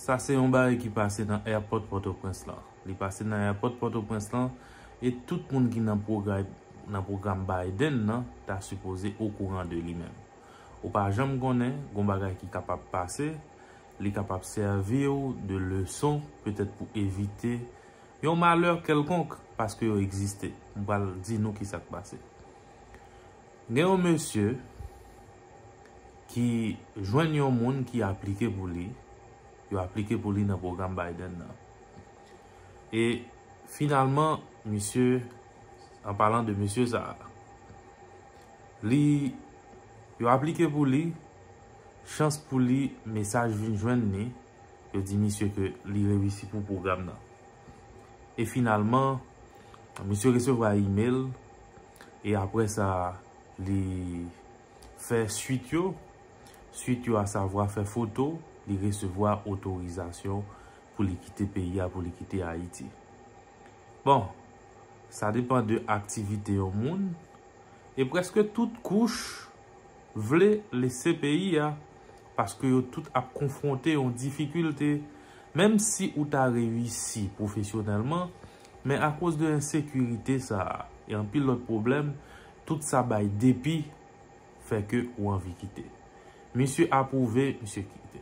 Sa se yon bagay ki pase nan èpòt Pòtoprens lan. Li pase nan èpòt Pòtoprens lan e tout moun ki nan pwogray nan pwogram Biden nan ta sipoze okouran de li menm. Ou pa janm konnen, gon bagay ki kapab pase, li kapab sèvi ou de leson petèt pou evite yon malè kèlkonk paske yo egziste. M pral di nou ki sa k pase. Gen yon mesye ki jwenn yon moun ki aplike pou li, yo aplike pou li nan pwogram Biden nan. E finalman, misye, an palan de mesye sa a, li, yo aplike pou li, chans pou li, mesaj vin jwenn li, yo di misye ke li reyisi pou pwogram nan. E finalman, misye resevwa email, E apre sa, li fè suit yo. Suit yo asavwa fè foto, li resevwa otorizasyon pou li kite peyi a, pou li kite Ayiti. Bon, sa depan de aktivite yon moun. E preske tout kouch vle lese peyi a, paske yo tout ap konfwonte yon difikilte. Menm si ou ta reyisi pwofesyonèlman, Men akoz de ensekirite sa a e anpil lòt pwoblèm, tout sa bay depi fè ke ou anvi kite. Misye apwouve, misye kite.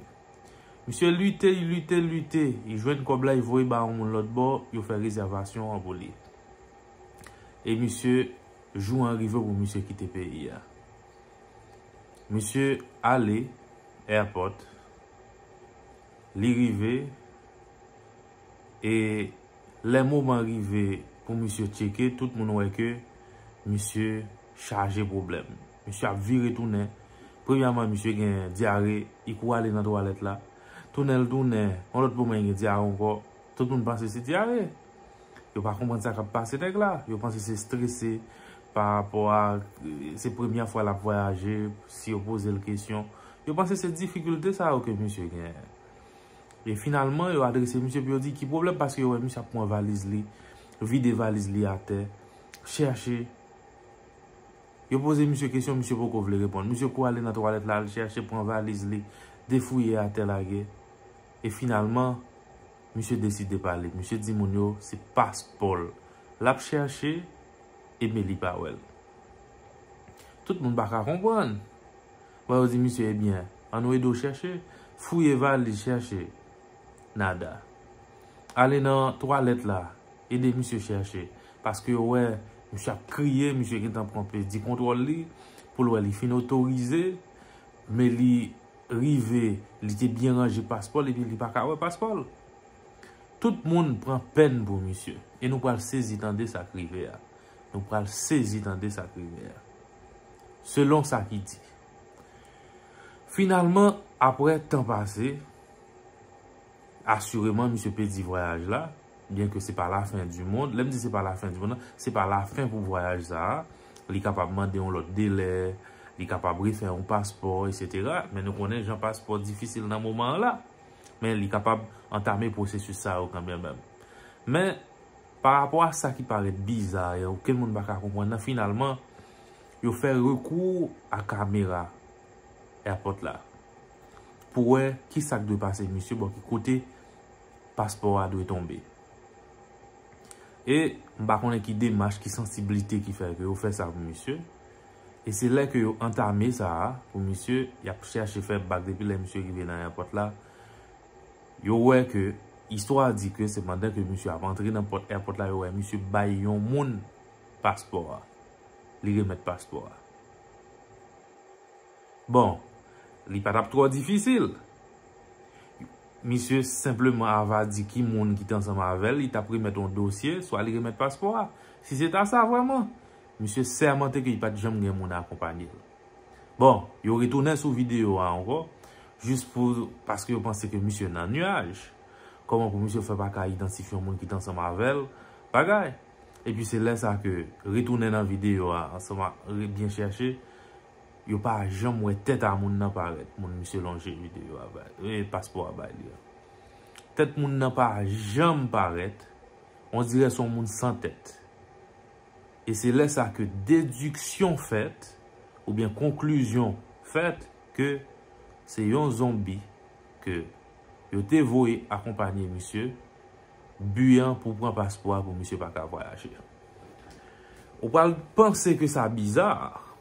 Misye lite, li lite, lite, li jwenn kòb la, li voye ba yon moun lòtbò, yo fè rezèvasyon an pou li. E misye, jou an rive pou misye kite peyi a. Misye ale, airport, li rive. E lè moman rive pou misye tcheke, tout moun wè ke misye chaje pwoblèm. Misye ap vire tounen. Premyèman, misye gen dyare, li kou ale nan twalèt la. Tounen l tounen, yon lòt moman li gen dyare ankò. Tout moun panse se dyare. Yo pa konprann sa k ap pase nèg la. Yo panse se strese parapò a se premyè fwa l ap vwayaje, si yo poze l kesyon. Yo panse se difikilte sa yo ke misye genyen. E finalman, yo adrese misye pou yo di ki pwoblèm paske yo wè misye ap pran valiz li, vide valiz li atè, chèche. Yo poze misye kesyon, misye poko vle reponn. Misye kou ale nan twalèt la, al chèche, pran valiz li, defouye atè lage. E finalman, misye deside pale. Misye di moun yo, se paspò l l ap chèche, e men li pa wè l. Tout moun pa ka konprann. Bon yo di misye ebyen an nou ede w chèche, fouye valiz chèche nada. Ale nan twalèt la ede misye chèche paske yo wè misye ap kriye misye gentan pran pèdi kontwòl li pou l wè li fin otorize men li rive li te byen ranje paspò l epi li pa ka wè paspò l. Tout moun pran pèn pou misye e nou pral sezi tande sa k rive a. Nou pral sezi tande sa k rive a. Selon sa ki di. Finalman, apre tan pase, asireman misye pedi vwayaj la, byen ke se pa la fen di mond, lè m di se pa la fen di mond la, se pa la fen pou vwayaj sa a, li kapab mande yon lòt delè, li kapab refè yon paspò, etsetera, men nou konnen jan paspò difisil nan moman an la, men li kapab antame pwosesis sa yo kanmenmèm. Men, Pa rapò a sa ki parèt biza e okenn moun pa ka konprann nan, finalman, yo fè rekou a kamera Airport la pou wè ki sa k dwe pase misye bò ki kote paspò a dwe tonbe. E m pa konnen ki demach, ki sansiblite ki fè ke yo fè sa pou misye. E se lè ke yo antame sa a pou misye, y ap chèche fè bak depi lè misye rive nan Airport la. Yo wè ke, istwa a di ke se pandan ke misye ap antre nan pòt èpòt la yo wè misye bay yon moun paspò a. Li remèt paspò a. Bon, li pa tap twò difisil. Misye senpleman ava di ki moun ki te ansanm avè l, li tap remèt yon dosye, swa li remèt paspò a. Si se ta sa vrèman, misye sèmante ke li pat janm gen moun akonpanye l. Bon, yo retounen sou video a ankò, jis pou, paske yo panse ke misye nan nuaj. Kòman pou misye fè pa ka idantifye yon moun ki t ansanm avè l? Bagay! Epi se lè sa ke, retounen nan video a, ansanm ak, re byen chèche, yo pa janm wè tèt a moun nan parèt. Moun misye lonje video a bay, e paspò a bay li a. Tèt moun nan pa janm parèt, on dirè se yon moun san tèt. e se lè sa ke dediksyon fèt oubyen konklizyon fèt ke se yon zonbi ke yo te voye akonpanye misye, bi an pou pran paspò a pou misye pa ka vwayaje. Ou pral panse ke sa biza,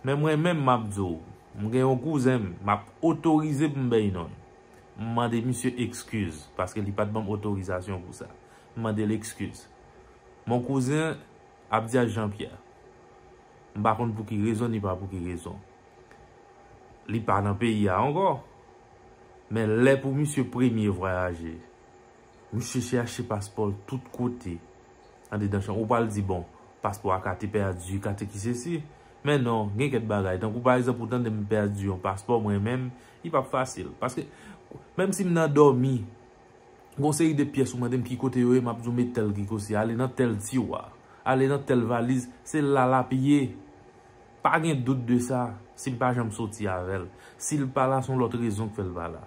men mwen menm m ap di w, m gen yon kouzen m, m ap otorize pou m bay non l. M mande misye ekskiz, paske li pa t ban m otorizasyon pou sa. M mande l ekskiz. Mon cousin, Abdias Jean Pierre, m pa konn pou ki rezon ni pa pou ki rezon, li pa nan peyi a ankò, men lè pou misye premye vwayaje, misye chèche paspò l tout kote, andedan chanm, ou pral di bon, paspò a ka te pèdi, ka te ki sesi, men non, gen kèk bagay, tankou pa egzanp ou tande m pèdi yon paspò mwen menm, li p ap fasil, paske, menm si m nan dòmi, Gon seri de pyès ou mande m ki kote yo ye m ap di w met tèl krikosye ale nan tèl tiwa, ale nan tèl valiz, se la l ap ye. Pa gen dout de sa, si m pa janm soti avè l. Si l pa la s on lòt rezon k fè l pa la.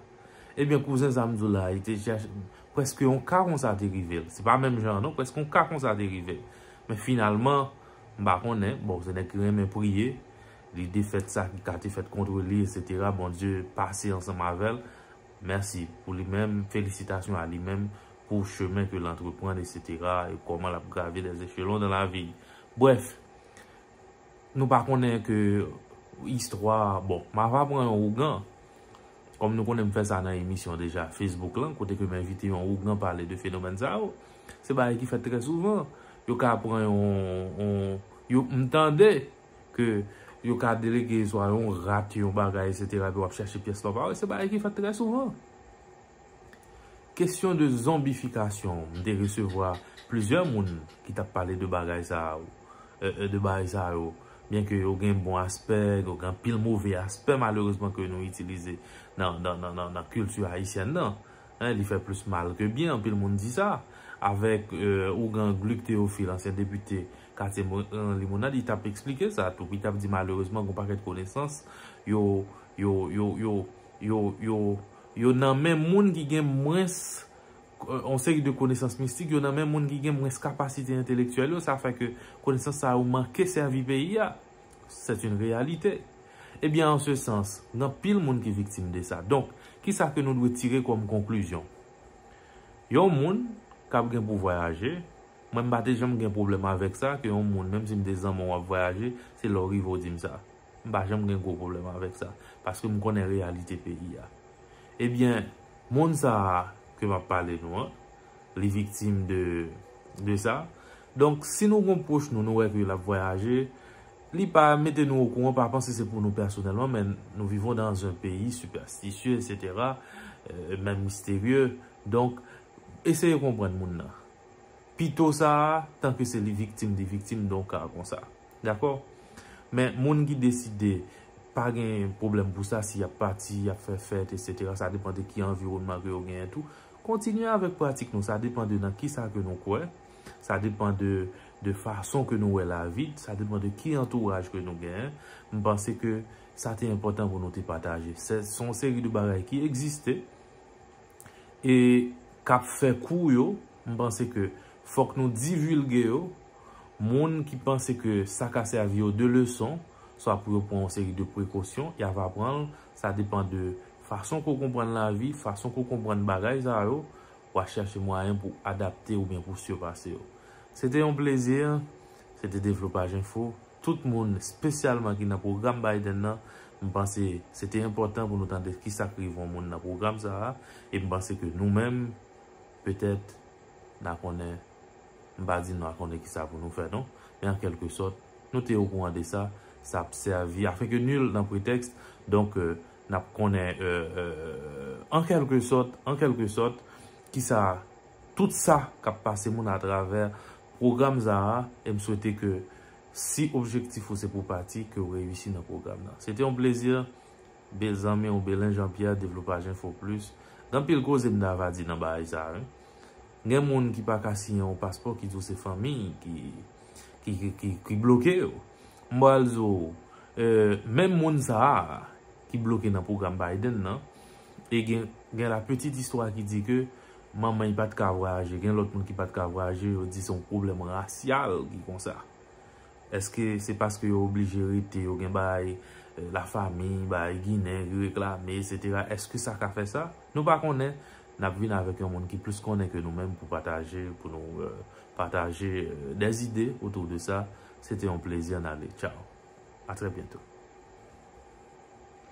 Ebyen kouzen sa m di w la e te chèche, prèske yon ka konsa te rive l. Se pa menm jan an non, prèske yon ka konsa te rive l. Men finalman, m pa konnen, bon se nèg ki renmen priye, li defèt sa ki ka te fèt kontre li esetera, Bondye pase ansanm avè l. Merci pou li menm, felisitasyon a li menm pou chemen ke l antreprann etc. E koman l ap grave les echelons dans la vie. Bref, nou pa konnen ke istwa, bon, m ava pran yon ougan, kom nou konnen m fè sa nan emisyon deja Facebook lan, kote ke m envite yon ougan pale de fenomèn sa yo. Se bagay ki fèt trè souvan. Yo ka pran yon, yon, m tande. Ke yo ka delege swa yon rat, yon bagay, etsetera epi w ap chache pyès lò pa wè, se bagay ki fèt trè souvan. Kesyon de zonbifikasyon, m te resevwa plizyè moun ki t ap pale de bagay sa yo, de bagay sa yo, byenke yo gen bon aspè, yo gen anpil move aspè malerezman ke nou itilize nan kilti ayisyèn nan. Li fè plis mal ke byen, anpil moun di sa. Avèk ougan Gluck Théophile, ansyen depite katye Limonad, li t ap esplike sa tou. Li t ap di malerezman gen yon pakèt konesans yo, yo, yo, yo, yo, yo, yo nan men moun ki gen mwens, yon seri de konesans mistik yo nan men moun ki gen mwens kapasite entelektyèl yo, sa fè ke konesans sa yo manke sèvi peyi a. Sèt yn reyalite. Ebyen an se sans, gen anpil moun ki viktim de sa. Donk, ki sa ke nou dwe tire kòm konklizyon? Yon moun k ap gen pou vwayaje, Mwen m pa te janm gen pwoblèm avèk sa ke yon moun menm si m te zanman w ap vwayaje se lè w rive w di m sa. M pa janm gen gwo pwoblèm avèk sa paske m konnen reyalite peyi a. Ebyen moun sa a ke m ap pale nou an li viktim de de sa. Donk si nou gon pwoch nou nou wè ke l ap vwayaje li pa mete nou okouran pa panse se pou nou pèsonèlman men nou vivons dans un pays superstitieux etc. Menm misterye donk eseye konprann moun nan. Pito sa a, tanke se li viktim, li viktim don ka konsa. Dakò? Men, moun ki deside, pa gen pwoblèm pou sa, si y ap pati, y ap fè fèt, etsetera, sa depan de ki anviwònman ke yo genyen tou. Kontinye avèk pratik nou, sa depan de nan ki sa ke nou kwè, sa depan de fason ke nou wè lavi, sa depan de ki antouraj ke nou genyen. M panse ke sa te enpòtan pou nou te pataje. Se, se yon seri de bagay ki egziste. E kap fè kou yo, m panse ke fòk nou divilge yo, moun ki panse ke sa ka sèvi yo de leson, swa pou yo pran yon seri de prekosyon, ya va pran l, sa depan de fason ke w konprann lavi, fason ke w konprann bagay sa yo, wa chèche mwayen pou adapte oubyen pou sipase yo. Se te yon plezi, se te Devlopaj Enfo. Tout moun, spesyalman ki nan pwogram Biden nan, m panse se te enpòtan pou nou tande ki sa k rive yon moun nan pwogram sa a, e m panse ke nou menm, petèt, n a konnen, m pa di nou a konnen ki sa pou nou fè non, men an kèlke sòt, nou te okouran de sa, sa ap sèvi, afin ke nul n'en prétexte, donk, n ap konnen, an kèlke sòt, an kèlke sòt, ki sa, tout sa k ap pase moun atravè Program sa a e m swete ke si objektif ou se pou pati ke w reyisi nan program nan. Se te yon plezi be zanmi w Belin Jean Pierre Devlopaj Enfo Plis Gen anpil koze m ta va di nan bagay sa wi. Gen moun ki pa ka siyen yon paspò ki di w se fanmi ki ki ki bloke yo. M pral di w menm moun sa a ki bloke nan program Biden nan e gen gen la petite histoire ki di ke Manman y pat ka vwayaje. Gen lòt moun ki pat ka vwayaje, yo di se yon pwoblèm rasyal ki konsa. Eske se paske yo oblije rete, yo gen bagay lafamiy, bagay ginen ki reklame, esetera. Eske sa ka fè sa? Nou pa konnen. N ap vin avèk yon moun ki plis konnen ke nou menm pou pataje, pou nou pataje dè zide otou de sa. Se te yon plezi an ale. Tchaw. A trè byento.